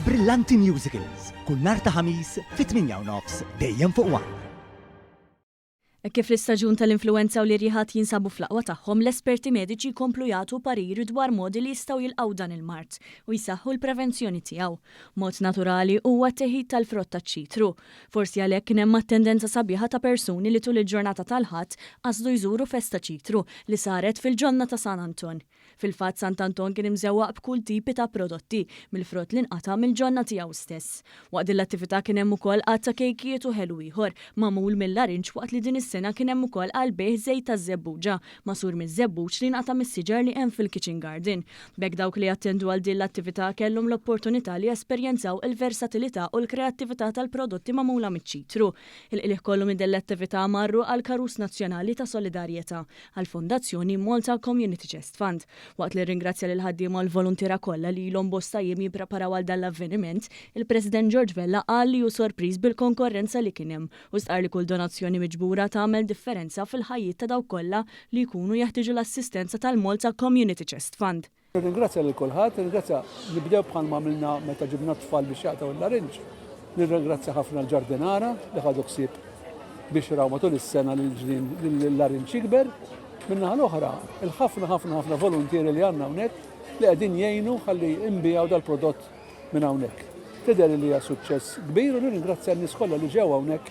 Brillanti Musicals, kull nhar ta' Ħamis fit-8:30, dejjem fuq one. Hekk kif l-istaġun tal-influwenza u l-irjiħat jinsabu fl-aqwa tagħhom, l-esperti mediċi jkomplu jagħtu parir dwar modi li jistgħu jilqgħu dan il-mard u jsaħħu l-prevenzjoni tiegħu. Mod naturali huwa t-teħid tal-frott taċ-ċitru. Forsi għalhekk kien hemm attendenza sabiħa ta' persuni li tul il-ġurnata tal-Ħadd qasdu jżuru festa ċitru li saret fil-ġonna ta' San Anton. Fil-fatt Sant' Anton kien imżewwaq b'kull tipi ta' prodotti, mill-frott li nqata' mill-ġonna tiegħu stess. Waqt din l-attività kien hemm ukoll għadd ta' kejkijiet u ħelu ieħor magħmul mill-larinġ waqt li din is-sena kien hemm ukoll għall-bejgħ żejt taż-żebbuġa magħsur miż-żebbuġ li nqata' mis-siġar li hemm fil-kitchen garden. B'hekk dawk li jattendu għal din l-attività kellhom l-opportunità li jesperjenzaw il-versatilità u l-kreattività tal-prodotti magħmula miċ-ċitru. Il-qligħ kollu minn din l-attività marru għall-Karus Nazzjonali ta' Solidarjetà. għall-Fondazzjoni Malta Community Chest Fund, waqt li rringrazzja lill-ħaddiema u l-voluntiera kollha li ilhom bosta jiem jippreparaw għal dan l-avveniment, il-President George Vella qal li hu sorpriż bil-konkorrenza li kien hemm u stqarr li kull donazzjoni miġbura tagħmel differenza fil-ħajjiet ta' dawk kollha li jkunu jeħtieġu l-assistenza tal-Malta Community Chest Fund. Nirringrazzja lil kulħadd, nirringrazzja nibdew bħalma għamilna meta ġibna t-tfal biex jaqtaw il-larinġ. Nirringrazzja ħafna l-ġardinara li ħadu ħsieb biex raw matul is-sena li l-ġnien l-larinġ jikber. Min-naħa l-oħra, il-ħafna ħafna ħafna voluntieri li għandna hawnhekk li qegħdin jgħinu ħalli imbijaw dal-prodott minn hawnhekk. Tidher li hija suċċess kbir u nirringrazzja n-nies kollha li ġew hawnhekk.